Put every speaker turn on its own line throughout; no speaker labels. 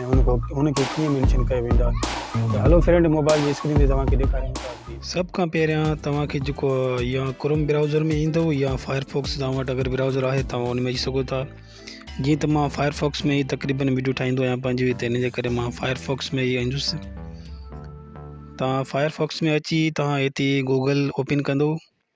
۽ ان کان ان کي ڪيئن مينشن ڪيو ويندو آهي ته هلو فرينڊ موبائل جي اسڪرين تي توهان کي ڏيکاريان ٿا اڳتي سڀ کان پهريان توهان کي جيڪو يا ڪروم براوزر ۾ ايندو يا فائر فوڪس توهان وٽ اگر براوزر آهي توهان ان ۾ اچي سگهو ٿا جيئن ته مان فائر فوڪس ۾ ئي تقريبن ويڊيو ٺاهيندو آهيان پنهنجي هتي ان جي ڪري مان فائر فوڪس ۾ ئي ايندس توهان فائر فوڪس ۾ اچي توهان هتي گوگل اوپن ڪندو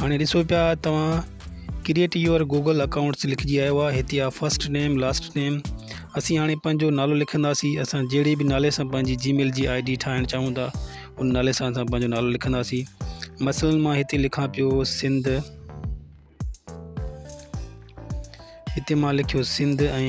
هاڻي ڏسو پيا توهان ڪريئيٽ يور گوگل اڪائونٽس لکجي آيو آهي هتي آ فرسٽ نيم لاسٽ نيم اسين هاڻي پنهنجو نالو لکنداسين اسان جهڙي به نالي سان پنهنجي جي ميل جي آئي ڊي ٺاهڻ چاهون ٿا ان نالي سان اسان پنهنجو نالو لکنداسين مثلا مان هتي لکان پيو سنڌ هتي مان لکيو سنڌ ۽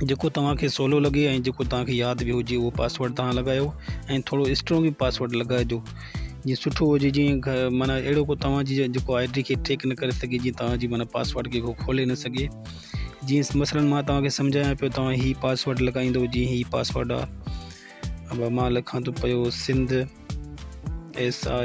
جيڪو توهان کي سولو لڳي ۽ جيڪو توهان کي ياد به هجي اهو پاسورڊ توهان لڳايو ۽ ٿورو اسٽرونگ به پاسورڊ لڳائجو جيئن سٺو هجي جيئن معنيٰ اهڙو ڪو توهان جي جيڪو آئي ڊي کي ٽريڪ نه ڪري سگهي جيئن توهان جي معنيٰ پاسورڊ کي ڪو کولي نه سگهي جيئن مثلاً مان توهان کي سمجهايان پيو توهان هي پاسورڊ لڳائيندو جيئن هي پاسورڊ آهي مان لکان ٿو پيو Sindh S I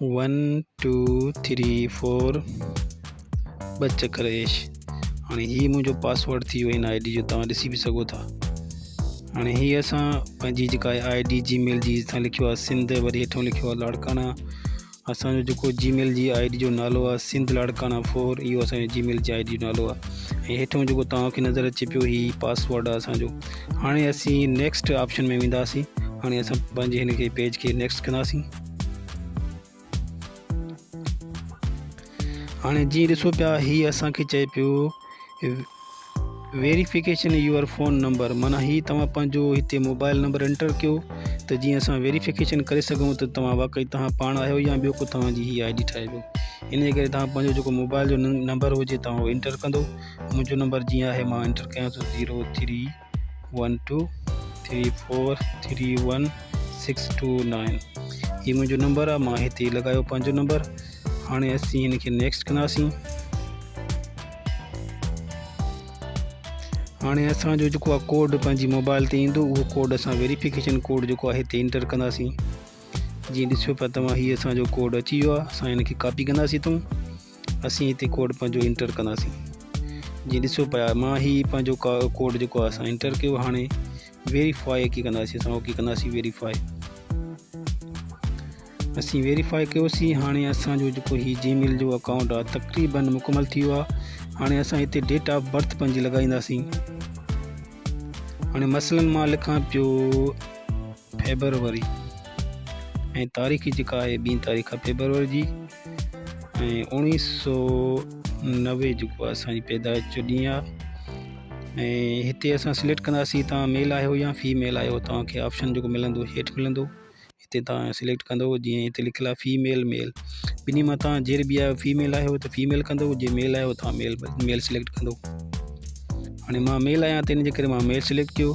one two three four ٻه چڪر ايش هاڻي هي منهنجو پاسورڊ ٿي ويو هن آئي ڊي جو توهان ڏسي به سگهو ٿا هاڻي هي اسان پنهنجي جيڪا آئي ڊي جي ميل جي هيٺان لکيو آهي سنڌ وري هيٺان لکيو آهي لاڙڪانا اسانجو جيڪو جي ميل جي آئي ڊي جو نالو آهي سنڌ لاڙڪانا فور اهو اسانجو جي ميل جي آئي ڊي جو نالو آهي ۽ هيٺان جيڪو توهانکي نظر اچي پيو هي پاسورڊ آهي اسانجو هاڻي اسين نيڪسٽ آپشن ۾ وينداسين هاڻي اسان پنهنجي هن کي پيج کي نيڪسٽ ڪنداسين هاڻي جيئن ڏسو پيا هي اسان کي چئي پيو ويريفڪيشن يور فون نمبر مانا هي توهان پنهنجو هتي موبائل نمبر انٽر ڪيو ته جيئن اسان ويريفڪيشن ڪري سگهون ته توهان واقعي توهان پاڻ آهيو يا ٻيو ڪو توهان جي هي آئي ڊي ٺاهي ويو ان جي ڪري توهان پنهنجو جيڪو موبائل جو نمبر هجي توهان انٽر ڪندو منهنجو نمبر جيئن آهي مان انٽر ڪيان ٿو zero three one two three four three one six two nine هي منهنجو نمبر آ مان هتي لڳايو پنهنجو نمبر هاڻي اسين هن کي نيڪسٽ ڪنداسين هاڻي اسان جو جيڪو آ ڪوڊ پنهنجي موبائل تي ايندو اهو ڪوڊ اسان ويريفڪيشن ڪوڊ جيڪو آ هتي انٽر ڪنداسين جيئن ڏسيو پيا توهان هي اسان جو ڪوڊ اچي ويو آ اسان هن کي ڪاپي ڪنداسين تون اسين هتي ڪوڊ پنهنجو انٽر ڪنداسين جي ڏسو پيا مان هي پنهنجو ڪوڊ جيڪو آهي اسان انٽر ڪيو هاڻي ويريفائي ڪي ڪنداسين اسان اوڪي ڪنداسين ويريفائي اسين ويريفائي ڪيوسين هاڻي اسان جو جيڪو هي جي ميل جو اڪائونٽ آهي تقريبن مڪمل ٿي ويو آهي هاڻي اسان هتي ڊيٽ آف برٿ پنهنجي لڳائينداسين هاڻي مثلاً مان لکان پيو فيبروري ۽ تاريخ جيڪا آهي ٻي تاريخ آهي فيبروري جي ۽ اوڻيهه سو نوي جيڪو آهي اسانجي پيدائش جو ڏينهن آهي ۽ هتي اسان سليڪٽ ڪنداسي تان ميل آهيو يا في ميل آهيو توهانکي آپشن جيڪو ملندو هيٺ ملندو هتي تان سليڪٽ ڪندو جيئن هتي لکيل آهي في ميل ميل ٻنهي مان تان جير بي آهيو في ميل آهيو ته في ميل ڪندو جي ميل آهيو تان ميل ميل سليڪٽ ڪندو هاڻي مان ميل آهيان تنهنجي ڪري مان ميل سليڪٽ ڪيو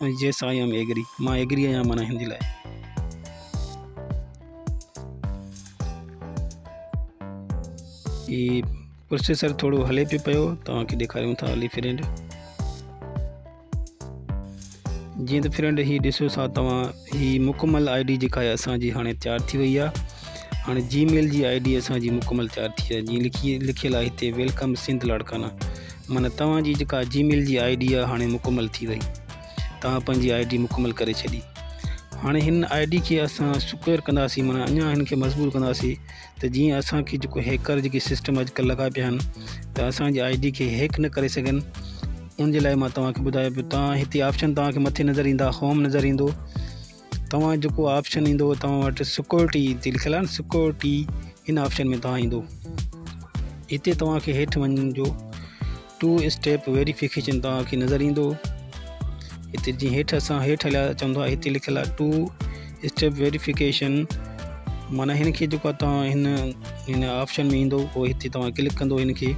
Yes I am agree مان agree آهيان معنيٰ هن جي لاء هي پروسيسر ٿورو هلي پيو پيو توهانکي ڏيکاريون ٿا هلي فرينڊ جيئن ته فرينڊ هي ڏسو سا توهان هي مڪمل آئي ڊي جيڪا آهي اسانجي هاڻي تيار ٿي وئي آهي هاڻي جي ميل جي آئي ڊي اسانجي مڪمل تيار ٿي آهي جيئن لکي لکيل آهي هتي ويلڪم سنڌ لاڙڪانا معنيٰ توهان جي جيڪا جي ميل جي آئي ڊي آهي هاڻي مڪمل ٿي وئي توهان پنهنجي آئي ڊي مڪمل ڪري ڇڏي هاڻي هن آئي ڊي کي اسان سڪيور ڪنداسين معنيٰ اڃا هن کي مضبوط ڪنداسين ته جيئن اسانکي جيڪو هيڪر جيڪي سسٽم اڄڪلهه لڳا پيا آهن ته اسانجي آئي ڊي کي هيڪ نه ڪري سگهن ان جي لاء مان توهان کي ٻڌايو پيو توهان هتي آپشن توهان کي مٿي نظر ايندا هوم نظر ايندو توهان جيڪو آپشن ايندو توهان وٽ سڪيورٽي تي لکيل آهي سڪيورٽي ان آپشن ۾ توهان ايندو هتي توهان کي هيٺ وڃڻ جو ٽو اسٽيپ ويريفڪيشن توهان کي نظر ايندو هتي جي هيٺ اسان هيٺ هليا چون ٿا هتي لکيل آهي ٽو اسٽيپ ويريفڪيشن معنی هن کي جيڪو توهان هن هن آپشن ۾ ايندو هو هتي توهان ڪلڪ ڪندو هن کي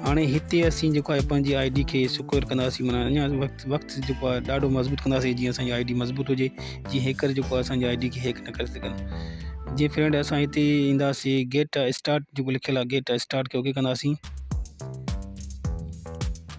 هاڻي هتي اسين جيڪو آهي پنهنجي آئي ڊي کي سڪيور ڪنداسين معنيٰ اڃا وقت وقت جيڪو آهي ڏاڍو مضبوط ڪنداسين جيئن اسانجي آئي ڊي مضبوط هجي جي هيڪر جيڪو آهي اسانجي آئي ڊي کي هيڪ نه ڪري سگهن جي فرينڊ اسان هتي اينداسين گيٽ اسٽارٽ جيڪو لکيل آهي گيٽ اسٽارٽ کي اوڪي ڪنداسين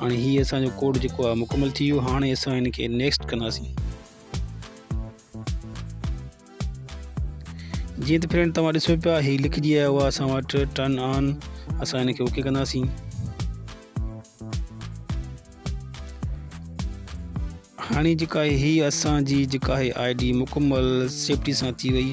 هاڻي هي اسان جو ڪوڊ جيڪو آهي مڪمل ٿي ويو هاڻي اسان ان کي نيڪسٽ ڪنداسين جيئن ته فرينڊ توهان ڏسو پيا هي لکجي آيو آهي اسان وٽ ٽرن آن اسان ان کي اوڪي ڪنداسين هاڻي جيڪا هي اسان جي جيڪا هي آئي ڊي مڪمل سيفٽي سان ٿي وئي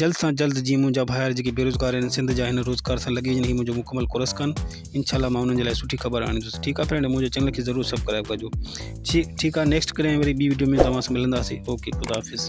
جلد سان جلد جيئن منهنجا ڀائر جيڪي بيروزگار آهن سنڌ جا هن روزگار سان لڳي وڃن هي منهنجو مڪمل ڪورس ڪن انشاء الله مان انهن جي لاء سٺي خبر آڻيندس ٺيڪ آهي فرينڊ منهنجو چينل کي ضرور سبسڪرائب ڪجو ٺيڪ آهي نيڪسٽ ڪڏهن وري ٻي ويڊيو ۾ توهان سان ملنداسي اوڪي خدا حافظ